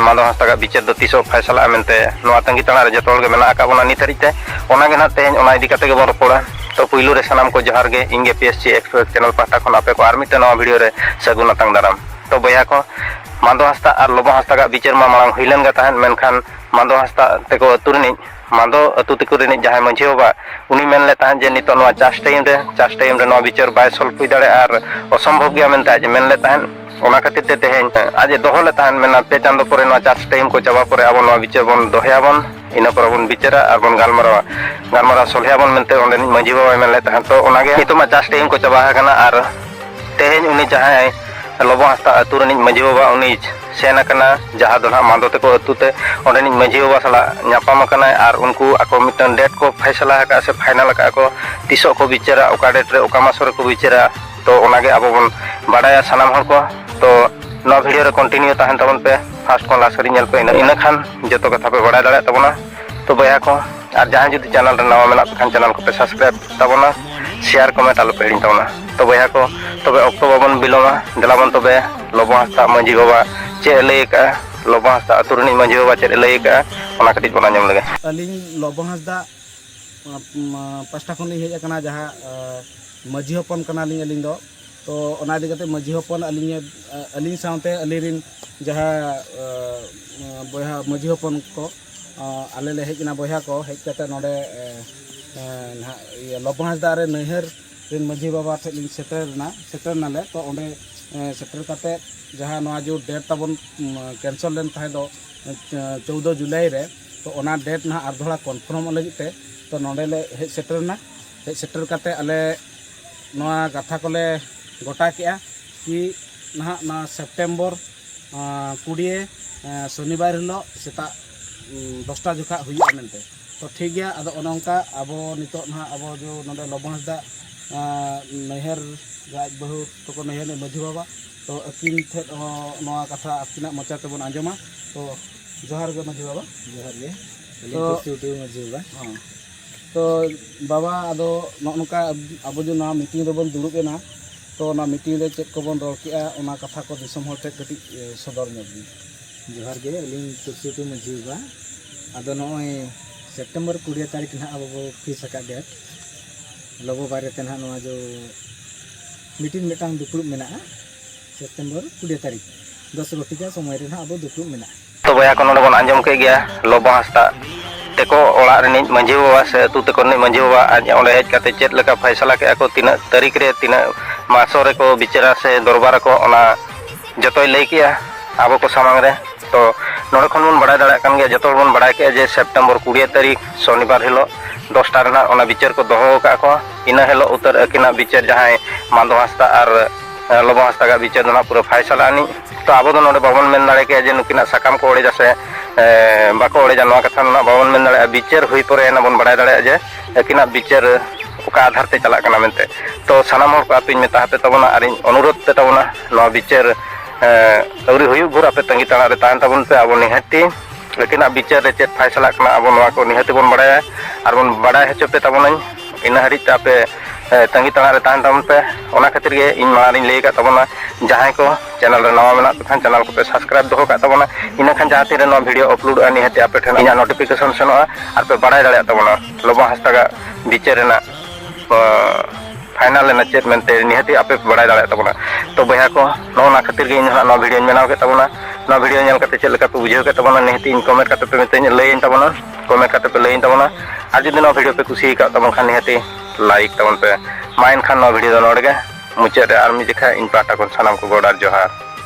ᱢᱟᱫᱚ ᱦᱟᱸᱥᱫᱟᱜᱟᱜ ᱵᱤᱪᱟᱹᱨ ᱫᱚ ᱛᱤᱥᱚᱜ ᱯᱷᱟᱭᱥᱟᱞᱟᱜᱼᱟ ᱢᱮᱱᱛᱮ ᱱᱚᱣᱟ ᱛᱟᱺᱜᱤ ᱛᱟᱲᱟᱜ ᱨᱮ ᱡᱚᱛᱚ ᱦᱚᱲ ᱜᱮ ᱢᱮᱱᱟᱜ ᱟᱠᱟᱫ ᱵᱚᱱᱟ ᱱᱤᱛ ᱦᱟᱹᱨᱤᱡ ᱛᱮ ᱚᱱᱟ ᱜᱮ ᱱᱟᱦᱟᱜ ᱛᱮᱦᱮᱧ ᱚᱱᱟ ᱤᱫᱤ ᱠᱟᱛᱮ ᱜᱮᱵᱚᱱ ᱨᱚᱯᱚᱲᱟ ᱛᱚ ᱯᱩᱭᱞᱩ ᱨᱮ ᱥᱟᱱᱟᱢ ᱠᱚ ᱡᱚᱦᱟᱨ ᱜᱮ ᱤᱧ ᱜᱮ P S C express channel ᱯᱟᱦᱴᱟ ᱠᱷᱚᱱ ᱟᱯᱮ ᱠᱚ ᱟᱨ ᱢᱤᱫᱴᱮᱱ ᱱᱚᱣᱟ ᱵᱷᱤᱰᱤᱭᱳ ᱨᱮ ᱥᱟᱹᱜᱩᱱ ᱟᱛᱟᱝ ᱫᱟᱨᱟᱢ ᱛᱚ ᱵᱚᱭᱦᱟ ᱠᱚ ᱢᱟᱫᱚ ᱦᱟᱸᱥᱫᱟᱜ ᱟᱨ ᱞᱚᱵᱚ ᱦᱟᱸᱥᱫᱟᱜᱟᱜ ᱵᱤᱪᱟᱹᱨ ᱢᱟ ᱢᱟᱲᱟᱝ ᱦᱩᱭ ᱞᱮᱱ ᱜᱮ ᱛᱟᱦᱮᱸᱫ ᱢᱮᱱᱠᱷᱟᱱ ᱢᱟᱫᱚ ᱦᱟᱸᱥᱫᱟᱜ ᱛᱮᱠᱚ ᱟᱹᱛᱩ ᱨᱤᱱᱤᱡ ᱢᱟᱫᱚ ᱟᱹᱛᱩ ᱛᱤᱠᱩ ᱨᱤᱱᱤᱡ ᱡᱟᱦᱟᱸᱭ ᱢᱟᱹᱡᱷᱤ ᱵᱟᱵᱟ ᱩᱱᱤ ᱢᱮᱱ ᱞᱮᱫ ᱛᱟᱦᱮᱸᱫ ᱡᱮ ᱱᱤᱛᱚᱜ ᱱᱚᱣᱟ ᱪᱟᱥ ᱴᱟᱭᱤᱢ ᱨᱮ ᱪᱟᱥ ᱴᱟᱭᱤᱢ ᱨᱮ ᱱᱚᱣᱟ ᱵᱤᱪᱟᱹᱨ ᱵᱟᱭ ᱥᱚᱞᱵᱷ ᱦᱩᱭ ᱫᱟᱲᱮᱭᱟᱜᱼᱟ ᱟᱨ ᱚᱥᱚᱢᱵᱷᱚᱵ ᱜᱮᱭᱟ ᱢᱮᱱᱛᱮ ᱟᱡ ᱢᱮᱱ ᱞᱮᱫ ᱛᱟᱦᱮᱸᱫ ᱚᱱᱟ ᱠᱷᱟᱹᱛᱤᱨ ᱛᱮ ᱛᱮᱦᱮᱧ ᱟᱡ ᱮ ᱫᱚᱦᱚ ᱞᱮᱫ ᱛᱟᱦᱮᱸᱫ ᱢᱮᱱᱟ ᱯᱮ ᱪᱟᱸᱫᱚ ᱯᱚᱨᱮ ᱱᱚᱣᱟ ᱪᱟᱥ ᱴᱟᱭᱤᱢ ᱠᱚ ᱪᱟᱵᱟ ᱯᱚᱨᱮ ᱟᱵᱚ ᱱᱚᱣᱟ ᱵᱤᱪᱟᱹᱨ ᱵᱚᱱ ᱫᱚᱦᱚᱭᱟᱵᱚᱱ ᱤᱱᱟᱹ ᱯᱚᱨᱮ ᱵᱚᱱ ᱵᱤᱪᱟᱹᱨᱟ ᱟᱨ ᱵᱚᱱ ᱜᱟᱞᱢᱟᱨᱟᱣᱟ ᱜᱟᱞᱢᱟᱨᱟᱣ ᱥᱚᱞᱦᱮᱭᱟᱵᱚᱱ ᱢᱮᱱᱛᱮ ᱚᱸᱰᱮᱱᱤᱡ ᱢᱟᱹᱡᱷᱤ ᱵᱟᱵᱟᱭ ᱢᱮᱱ ᱞᱮᱫ ᱛᱟᱦᱮᱸᱫ ᱛᱚ ᱚᱱᱟᱜᱮ ᱱᱤᱛᱚᱜ ᱢᱟ ᱪᱟᱥ ᱴᱟᱭᱤᱢ ᱠᱚ ᱪᱟᱵᱟ ᱟᱠᱟᱱᱟ ᱟᱨ ᱛᱮᱦᱮᱧ ᱩᱱᱤ ᱡᱟᱦᱟᱸᱭ ᱞᱚᱵᱚ ᱦᱟᱸᱥᱫᱟ ᱟᱹᱛᱩ ᱨᱤᱱᱤᱡ ᱢᱟᱹᱡᱷᱤ ᱵᱟᱵᱟ ᱩᱱᱤ ᱥᱮᱱ ᱟᱠᱟᱱᱟ ᱡᱟᱦᱟᱸ ᱫᱚ ᱱᱟᱦᱟᱜ ᱢᱟᱫᱚ ᱛᱮᱠᱚ ᱟᱹᱛᱩ ᱛᱮ ᱚᱸᱰᱮᱱᱤᱡ ᱢᱟᱹᱡᱷᱤ ᱵᱟᱵᱟ ᱥᱟᱞᱟᱜ ᱧᱟᱯᱟᱢ ᱟᱠᱟᱱᱟᱭ ᱟᱨ ᱩᱱᱠᱩ ᱟᱠᱚ ᱢᱤᱫᱴᱟᱝ ᱰᱮᱴ ᱠᱚ ᱯᱷᱟᱭᱥᱟᱞᱟ ᱟᱠᱟᱫᱼᱟ ᱥᱮ ᱯᱷᱟᱭᱱᱟᱞ ᱟᱠᱟᱫᱼᱟ ᱠᱚ ᱛᱤᱥᱚᱜ ᱠᱚ ᱵᱤᱪᱟᱹᱨᱟ ᱚᱠᱟ ᱰᱮᱴ ᱨᱮ ᱚᱠᱟ ᱢᱟᱥ ᱨᱮᱠᱚ ᱵᱤᱪᱟᱹᱨᱟ ᱛᱚ ᱚᱱᱟᱜᱮ ᱟᱵᱚ ᱵᱚᱱ ᱵᱟᱰᱟᱭᱟ ᱥᱟᱱᱟᱢ ᱦᱚᱲ ᱠᱚ ᱛᱚ ᱱᱚᱣᱟ ᱵᱷᱤᱰᱤᱭᱳ ᱨᱮ ᱠᱚᱱᱴᱤᱱᱤᱭᱩ ᱛᱟᱦᱮᱱ ᱛᱟᱵᱚᱱ ᱯᱮ ᱯᱷᱟᱥᱴ ᱠᱷᱚᱱ ᱞᱟᱥᱴ ᱦᱟᱹᱨᱤᱡ ᱧᱮᱞ ᱯᱮ ᱤᱱᱟᱹ ᱠᱷᱟᱱ ᱡᱚᱛᱚ ᱠᱟᱛᱷᱟ ᱯᱮ ᱵᱟᱰᱟᱭ ᱫᱟᱲᱮᱭᱟᱜ ᱛᱟᱵᱚᱱᱟ ᱛᱚ ᱵᱚᱭᱦᱟ ᱠᱚ ᱟᱨ ᱡᱟᱦᱟᱸᱭ ᱡᱩᱫᱤ ᱪᱮᱱᱮᱞ ᱨᱮ ᱱᱟᱣᱟ ᱢᱮᱱᱟᱜ ᱯᱮ ᱠᱷᱟᱱ ᱪᱮᱱᱮᱞ ᱠᱚᱯᱮ ᱥᱟᱵᱥᱠᱨᱟᱭᱤᱵ ᱛᱟᱵᱚᱱᱟ ᱥᱮᱭᱟᱨ ᱠᱚᱢᱮᱱᱴ ᱟᱞᱚᱯᱮ ᱦᱤᱲᱤᱧ ᱛᱟᱵᱚᱱᱟ ᱛᱚ ᱵᱚᱭᱦᱟ ᱠᱚ ᱛᱚᱵᱮ ᱚᱠᱛᱚ ᱵᱟᱵᱚᱱ ᱵᱤᱞᱚᱢᱟ ᱫᱮᱞᱟ ᱵᱚᱱ ᱛᱚᱵᱮ ᱞᱚᱵᱚ ᱦᱟᱸᱥᱫᱟ ᱢᱟᱺᱡᱷᱤ ᱵᱟᱵᱟ ᱪᱮᱫ ᱮ ᱞᱟᱹᱭ ᱟᱠᱟᱫᱼᱟ ᱞᱚᱵᱚ ᱦᱟᱸᱥᱫᱟ ᱟᱹᱛᱩ ᱨᱤᱱᱤᱡ ᱢᱟᱺᱡᱷᱤ ᱵᱟᱵᱟ ᱪᱮᱫ ᱮ ᱞᱟᱹᱭ ᱟᱠᱟᱫᱼᱟ ᱚᱱᱟ ᱠᱟᱹᱴᱤᱡ ᱵᱚᱱ ᱟᱸᱡᱚᱢ ᱞᱮᱜᱮ ᱟᱹᱞᱤᱧ ᱞᱚᱵᱚ ᱦᱟᱸᱥᱫᱟ ᱯᱟᱥᱴᱟ ᱠᱷᱚᱱ ᱞᱤᱧ ᱦᱮᱡ ᱟᱠᱟᱱᱟ ᱡᱟᱦᱟᱸ ᱢᱟᱺᱡᱷᱤ ᱦᱚᱯᱚᱱ ᱠᱟᱱᱟᱞᱤᱧ ᱟᱹᱞᱤᱧ ᱫᱚ ᱛᱚ ᱚᱱᱟ ᱤᱫᱤ ᱠᱟᱛᱮ ᱢᱟᱺᱡᱷᱤ ᱦᱚᱯᱚᱱ ᱟᱹᱞᱤᱧ ᱟᱹᱞᱤᱧ ᱥᱟᱶᱛᱮ ᱟᱹᱞᱤᱧ ᱨᱤᱱ ᱡᱟᱦᱟᱸ ᱵᱚᱭᱦᱟ ᱢᱟᱺᱡᱷᱤ ᱦᱚᱯᱚᱱ ᱠᱚ ᱟᱞᱮ ᱞᱮ ᱦᱮᱡ ᱮᱱᱟ ᱵᱚᱭᱦᱟ ᱠᱚ ᱦᱮᱡ ᱠᱟᱛᱮ ᱱᱚᱰᱮ ᱱᱟᱦᱟᱜ ᱤᱭᱟᱹ ᱞᱚᱵᱚ ᱦᱟᱸᱥᱫᱟ ᱨᱮ ᱱᱟᱹᱭᱦᱟᱹᱨ ᱨᱮᱱ ᱢᱟᱹᱡᱷᱤ ᱵᱟᱵᱟ ᱴᱷᱮᱱ ᱞᱤᱧ ᱥᱮᱴᱮᱨ ᱮᱱᱟ ᱥᱮᱴᱮᱨ ᱱᱟᱞᱮ ᱛᱚ ᱚᱸᱰᱮ ᱥᱮᱴᱮᱨ ᱠᱟᱛᱮ ᱡᱟᱦᱟᱸ ᱱᱚᱣᱟ ᱡᱮ ᱰᱮᱴ ᱛᱟᱵᱚᱱ ᱠᱮᱱᱥᱮᱞ ᱞᱮᱱ ᱛᱟᱦᱮᱸ ᱫᱚ ᱪᱳᱣᱫᱚ ᱡᱩᱞᱟᱭ ᱨᱮ ᱛᱚ ᱚᱱᱟ ᱰᱮᱴ ᱱᱟᱦᱟᱜ ᱟᱨ ᱫᱚᱦᱲᱟ ᱠᱚᱱᱯᱷᱟᱨᱢᱚᱜ ᱞᱟᱹᱜᱤᱫ ᱛᱮ ᱛᱚ ᱱᱚᱰᱮ ᱞᱮ ᱦᱮᱡ ᱥᱮᱴᱮᱨ ᱮᱱᱟ ᱦᱮᱡ ᱥᱮᱴᱮᱨ ᱠᱟᱛᱮ ᱟᱞᱮ ᱱᱚᱣᱟ ᱠᱟᱛᱷᱟ ᱠᱚᱞᱮ ᱜᱚᱴᱟ ᱠᱮᱜᱼᱟ ᱠᱤ ᱱᱟᱦᱟᱜ ᱱᱚᱣᱟ ᱥᱮᱯᱴᱮᱢᱵᱚᱨ ᱠᱩᱲᱤᱭᱮ ᱥᱚᱱᱤᱵᱟᱨ ᱦᱤᱞᱳᱜ ᱥᱮᱛᱟᱜ ᱫᱚᱥᱴᱟ ᱡᱚᱠᱷᱟᱜ ᱦᱩᱭᱩᱜᱼᱟ ᱢᱮᱱᱛᱮ ᱛᱚ ᱴᱷᱤᱠ ᱜᱮᱭᱟ ᱟᱫᱚ ᱚᱱᱮ ᱚᱱᱠᱟ ᱟᱵᱚ ᱱᱤᱛᱚᱜ ᱱᱟᱦᱟᱜ ᱟᱵᱚ ᱡᱮ ᱱᱚᱰᱮ ᱞᱚᱵᱚ ᱦᱟᱸᱥᱫᱟ ᱱᱟᱹᱭᱦᱟᱹᱨ ᱟᱡ ᱵᱟᱹᱦᱩ ᱛᱟᱠᱚ ᱱᱟᱹᱭᱦᱟᱹᱨ ᱨᱮᱱ ᱢᱟᱹᱡᱷᱤ ᱵᱟᱵᱟ ᱛᱚ ᱟᱹᱠᱤᱱ ᱴᱷᱮᱱ ᱦᱚᱸ ᱱᱚᱣᱟ ᱠᱟᱛᱷᱟ ᱟᱹᱠᱤᱱᱟᱜ ᱢᱚᱪᱟ ᱛᱮᱵᱚᱱ ᱟᱸᱡᱚᱢᱟ ᱛᱚ ᱡᱚᱦᱟᱨ ᱜᱮ ᱢᱟᱹᱡᱷᱤ ᱵᱟᱵᱟ ᱡᱚᱦᱟᱨ ᱜᱮ ᱟᱹᱞᱤᱧ ᱠᱩᱥᱤ ᱴᱩᱰᱩ ᱢᱟᱹᱡᱷᱤ ᱵᱟᱵᱟ ᱦᱚᱸ ᱛᱚ ᱵᱟᱵᱟ ᱟᱫᱚ ᱱᱚᱜᱼᱚ ᱱᱚᱝᱠᱟ ᱟᱵᱚ ᱡᱮ ᱱᱚᱣᱟ ᱢᱤᱴᱤᱝ ᱨᱮᱵᱚᱱ ᱫᱩᱲᱩᱵ ᱮᱱᱟ ᱛᱚ ᱚᱱᱟ ᱢᱤᱴᱤᱝ ᱨᱮ ᱪᱮᱫ ᱠᱚᱵᱚᱱ ᱨᱚᱲ ᱠᱮᱫᱼᱟ ᱚᱱᱟ ᱠᱟᱛᱷᱟ ᱠᱚ ᱫᱤᱥᱚᱢ ᱦᱚᱲ ᱴᱷᱮᱱ ᱠᱟᱹᱴᱤᱡ ᱥᱚᱫᱚᱨ ᱧᱚᱜᱽ ᱵᱤᱱ ᱡᱚᱦᱟᱨ ᱜᱮ ᱟᱹᱞᱤᱧ ᱛᱩᱞᱥᱤ ᱴᱩᱰᱩ ᱢᱟᱹᱡᱷᱤ ᱵᱟᱵᱟ ᱟᱫᱚ ᱱᱚᱜᱼᱚᱭ ᱥᱮᱯᱴᱮᱢᱵᱚᱨ ᱠᱩᱲᱤ ᱛᱟᱹᱨᱤᱠᱷ ᱱᱟᱦᱟᱜ ᱟᱵᱚ ᱵᱚᱱ ᱯᱷᱤᱠᱥ ᱟᱠᱟᱫ ᱰᱮᱴ ᱞᱚᱵᱚ ᱵᱟᱨᱮᱛᱮ ᱱᱟᱦᱟᱜ ᱱᱚᱣᱟ ᱡᱮ ᱢᱤᱴᱤᱱ ᱢᱤᱫᱴᱟᱝ ᱫᱩᱯᱲᱩᱵ ᱢᱮᱱᱟᱜᱼᱟ ᱥᱮᱯᱴᱮᱢᱵᱚᱨ ᱠᱩᱲᱤ ᱛᱟᱹᱨᱤᱠᱷ ᱫᱚᱥ ᱜᱷᱚᱴᱤᱠᱟ ᱥᱚᱢᱚᱭ ᱨᱮ ᱱᱟᱦᱟᱜ ᱟᱵᱚ ᱫᱩᱯᱲᱩᱵ ᱢᱮᱱᱟᱜᱼᱟ᱾ ᱛᱚ ᱵᱚᱭᱦᱟ ᱠᱚ ᱱᱚᱰᱮ ᱵᱚᱱ ᱟᱸᱡᱚᱢ ᱠᱮᱫ ᱜᱮᱭᱟ ᱞᱚᱵᱚ ᱦᱟᱸᱥᱫᱟᱜ ᱛᱮᱠᱚ ᱚᱲᱟᱜ ᱨᱤᱱᱤᱡ ᱢᱟᱹᱡᱷᱤ ᱵᱟᱵᱟ ᱥᱮ ᱟᱹᱛᱩ ᱛᱮᱠᱚ ᱨᱤᱱᱤᱡ ᱢᱟᱹᱡᱷᱤ ᱵᱟᱵᱟ ᱟᱡ ᱚᱸᱰᱮ ᱦᱮᱡ ᱠᱟᱛᱮ ᱪᱮᱫ ᱞᱮᱠᱟ ᱯᱷᱟᱭᱥᱟᱞᱟ ᱠᱮᱫᱼᱟ ᱠᱚ ᱛᱤᱱᱟᱹᱜ ᱛᱟᱹᱨᱤᱠᱷ ᱨᱮ ᱛᱤᱱᱟᱹᱜ ᱢᱟᱥᱚ ᱨᱮᱠᱚ ᱵᱤᱪᱟᱹᱨᱟ ᱥᱮ ᱫᱚᱨᱵᱟᱨ ᱟᱠᱚ ᱚᱱᱟ ᱡᱚᱛᱚᱭ ᱞᱟᱹᱭ ᱠᱮᱫᱼᱟ ᱟᱵᱚ ᱠᱚ ᱥᱟᱢᱟᱝ ᱨᱮ ᱛᱚ ᱱᱚᱰᱮ ᱠᱷᱚᱱ ᱵᱚᱱ ᱵᱟᱲᱟᱭ ᱫᱟᱲᱮᱭᱟᱜ ᱠᱟᱱ ᱜᱮᱭᱟ ᱡᱚᱛᱚ ᱦᱚᱲ ᱵᱚᱱ ᱵᱟᱲᱟᱭ ᱠᱮᱫᱼᱟ ᱡᱮ ᱥᱮᱯᱴᱮᱢᱵᱚᱨ ᱠᱩᱲᱤ ᱛᱟᱹᱨᱤᱠᱷ ᱥᱚᱱᱤᱵᱟᱨ ᱦᱤᱞᱚᱜ ᱫᱚᱥᱴᱟ ᱨᱮ ᱱᱟᱦᱟᱜ ᱚᱱᱟ ᱵᱤᱪᱟᱹᱨ ᱠᱚ ᱫᱚᱦᱚ ᱟᱠᱟᱫ ᱠᱚᱣᱟ ᱤᱱᱟᱹ ᱦᱤᱞᱳᱜ ᱩᱛᱟᱹᱨ ᱟᱹᱠᱤᱱᱟᱜ ᱵᱤᱪᱟᱹᱨ ᱡᱟᱦᱟᱸᱭ ᱢᱟᱱᱫᱚ ᱦᱟᱸᱥᱫᱟ ᱟᱨ ᱞᱚᱵᱚ ᱦᱟᱸᱥᱫᱟᱜᱟᱜ ᱵᱤᱪᱟᱹᱨ ᱫᱚ ᱱᱟᱜ ᱯᱩᱨᱟᱹ ᱯᱷᱟᱭᱥᱟᱞᱟ ᱟᱹᱱᱤᱡ ᱛᱚ ᱟᱵᱚ ᱫᱚ ᱱᱚᱰᱮ ᱵᱟᱵᱚᱱ ᱢᱮᱱ ᱫᱟᱲᱮ ᱠᱮᱭᱟ ᱡᱮ ᱱᱩᱠᱤᱱᱟᱜ ᱥᱟᱠᱟᱢ ᱠᱚ ᱚᱲᱮᱡᱟ ᱥᱮ ᱵᱟᱠᱚ ᱚᱲᱮᱡᱟ ᱱᱚᱣᱟ ᱠᱟᱛᱷᱟ ᱱᱟᱜ ᱵᱟᱵᱚᱱ ᱢᱮᱱ ᱫᱟᱲᱮᱭᱟᱜᱼᱟ ᱵᱤᱪᱟᱹᱨ ᱦᱩᱭ ᱯᱚᱨᱮ ᱟᱱᱟᱜ ᱵᱚᱱ ᱵᱟᱲᱟᱭ ᱫᱟᱲᱮᱭᱟᱜᱼᱟ ᱡᱮ ᱟᱹᱠᱤᱱᱟᱜ ᱵᱤᱪᱟᱹᱨ ᱚᱠᱟ ᱟᱫᱷᱟᱨ ᱛᱮ ᱪᱟᱞᱟᱜ ᱠᱟᱱᱟ ᱢᱮᱱᱛᱮ ᱛᱚ ᱥᱟᱱᱟᱢ ᱦᱚᱲ ᱠᱚ ᱟᱯᱮᱧ ᱢᱮᱛᱟ ᱟᱯᱮ ᱛᱟᱵᱚᱱᱟ ᱟᱨᱤᱧ ᱚᱱᱩᱨᱳᱫᱷ ᱯᱮ ᱛᱟᱵᱚᱱᱟ ᱱᱚᱣᱟ ᱵᱤᱪᱟᱹᱨ ᱟᱹᱣᱨᱤ ᱦᱩᱭᱩᱜ ᱵᱷᱳᱨ ᱟᱯᱮ ᱛᱟᱺᱜᱤ ᱛᱟᱲᱟᱜ ᱨᱮ ᱛᱟᱦᱮᱱ ᱛᱟᱵᱚᱱ ᱯᱮ ᱟᱵᱚ ᱱᱤᱦᱟᱹᱛᱤ ᱟᱹᱠᱤᱱᱟᱜ ᱵᱤᱪᱟᱹᱨ ᱨᱮ ᱪᱮᱫ ᱯᱷᱟᱭᱥᱟᱞᱟᱜ ᱠᱟᱱᱟ ᱟᱵᱚ ᱱᱚᱣᱟ ᱠᱚ ᱱᱤᱦᱟᱹᱛᱤ ᱵᱚᱱ ᱵᱟᱲᱟᱭᱟ ᱟᱨ ᱵᱚᱱ ᱵᱟᱲᱟᱭ ᱦᱚᱪᱚ ᱯᱮ ᱛᱟᱵᱚᱱᱟᱹᱧ ᱤᱱᱟᱹ ᱦᱟᱹᱨᱤᱡ ᱛᱮ ᱟᱯᱮ ᱛᱟᱺᱜᱤ ᱛᱟᱲᱟᱜ ᱨᱮ ᱛᱟᱦᱮᱱ ᱛᱟᱵᱚᱱ ᱯᱮ ᱚᱱᱟ ᱠᱷᱟᱹᱛᱤᱨ ᱜᱮ ᱤᱧ ᱢᱟᱲᱟᱝ ᱨᱤᱧ ᱞᱟᱹᱭ ᱟᱠᱟᱫ ᱛᱟᱵᱚᱱᱟ ᱡᱟᱦᱟᱸᱭ ᱠᱚ ᱪᱮᱱᱮᱞ ᱨᱮ ᱱᱟᱣᱟ ᱢᱮᱱᱟᱜ ᱯᱮ ᱠᱷᱟᱱ ᱪᱮᱱᱮᱞ ᱠᱚᱯᱮ ᱥᱟᱵᱥᱠᱨᱟᱭᱤᱵᱽ ᱫᱚᱦᱚ ᱠᱟᱜ ᱛᱟᱵᱚᱱᱟ ᱤᱱᱟᱹ ᱠᱷᱟᱱ ᱡᱟᱦᱟᱸ ᱛᱤᱱ ᱨᱮ ᱱᱚᱣᱟ ᱵᱷᱤᱰᱤᱭᱳ ᱟᱯᱞᱳᱰᱚᱜᱼᱟ ᱱᱤᱦᱟᱹᱛ ᱟᱯᱮ ᱴᱷᱮᱱ ᱤᱧᱟᱹᱜ ᱱᱳᱴᱤᱯᱷᱤᱠᱮᱥᱚᱱ ᱥᱮᱱᱚᱜᱼᱟ ᱟᱨ ᱯᱮ ᱵᱟᱲᱟᱭ ᱫᱟᱲᱮᱭᱟᱜ ᱛᱟᱵᱚᱱᱟ ᱞᱚᱵᱚ ᱦᱟᱸᱥᱫᱟᱜᱟᱜ ᱵᱤᱪᱟᱹᱨ ᱨᱮᱱᱟᱜ ᱯᱷᱟᱭᱱᱟᱞ ᱨᱮᱱᱟᱜ ᱪᱮᱫ ᱢᱮᱱᱛᱮ ᱱᱤᱦᱟᱹᱛ ᱟᱯᱮ ᱯᱮ ᱵᱟᱲᱟᱭ ᱫᱟᱲᱮᱭᱟᱜ ᱛᱟᱵᱚᱱᱟ ᱛᱚ ᱵᱚᱭᱦᱟ ᱠᱚ ᱱᱚᱜᱼᱚ ᱱᱟ ᱠᱷᱟᱹᱛᱤᱨ ᱜᱮ ᱤᱧ ᱦᱟᱸᱜ ᱱᱚᱣᱟ ᱵᱷᱤᱰᱤᱭᱳᱧ ᱵᱮᱱᱟᱣ ᱠᱮᱫ ᱛᱟᱵᱚᱱᱟ ᱱᱚᱣᱟ ᱵᱷᱤᱰᱤᱭᱳ ᱧᱮᱞ ᱠᱟᱛᱮ ᱪᱮᱫ ᱞᱮᱠᱟ ᱯᱮ ᱵᱩᱡᱷᱟᱹᱣ ᱠᱮᱫ ᱛᱟᱵᱚᱱᱟ ᱱᱤᱦᱟᱹᱛ ᱤᱧ ᱠᱚᱢᱮᱱᱴ ᱠᱟᱛᱮ ᱯᱮ ᱢᱤᱛᱟᱹᱧ ᱞᱟᱹᱭᱟᱹᱧ ᱛᱟᱵᱚᱱᱟ ᱠᱚᱢᱮᱱᱴ ᱠᱟᱛᱮ ᱯᱮ ᱞᱟᱹᱭᱤᱧ ᱛᱟᱵᱚᱱᱟ ᱟᱨ ᱡᱩᱫᱤ ᱱᱚᱣᱟ ᱵᱷᱤᱰᱤᱭᱳ ᱯᱮ ᱠᱩᱥᱤ ᱟᱠᱟᱫ ᱛᱟᱵᱚᱱ ᱠᱷᱟᱱ ᱱᱤᱦᱟᱹᱛᱤ ᱞᱟᱭᱤᱠ ᱛᱟᱵᱚᱱ ᱯᱮ ᱢᱟ ᱮᱱᱠᱷᱟᱱ ᱱᱚᱣᱟ ᱵᱷᱤᱰᱤᱭᱳ ᱫᱚ ᱱᱚᱰᱮ ᱜᱮ ᱢᱩᱪᱟᱹᱫ ᱨᱮ ᱟᱨ ᱢᱤᱫ ᱡᱮᱠᱷᱟ ᱤᱧ ᱯᱟᱦᱴᱟ ᱠᱷᱚᱱ ᱥᱟᱱᱟᱢ ᱠᱚ ᱜᱚᱰ ᱟᱨ ᱡᱚᱦᱟᱨ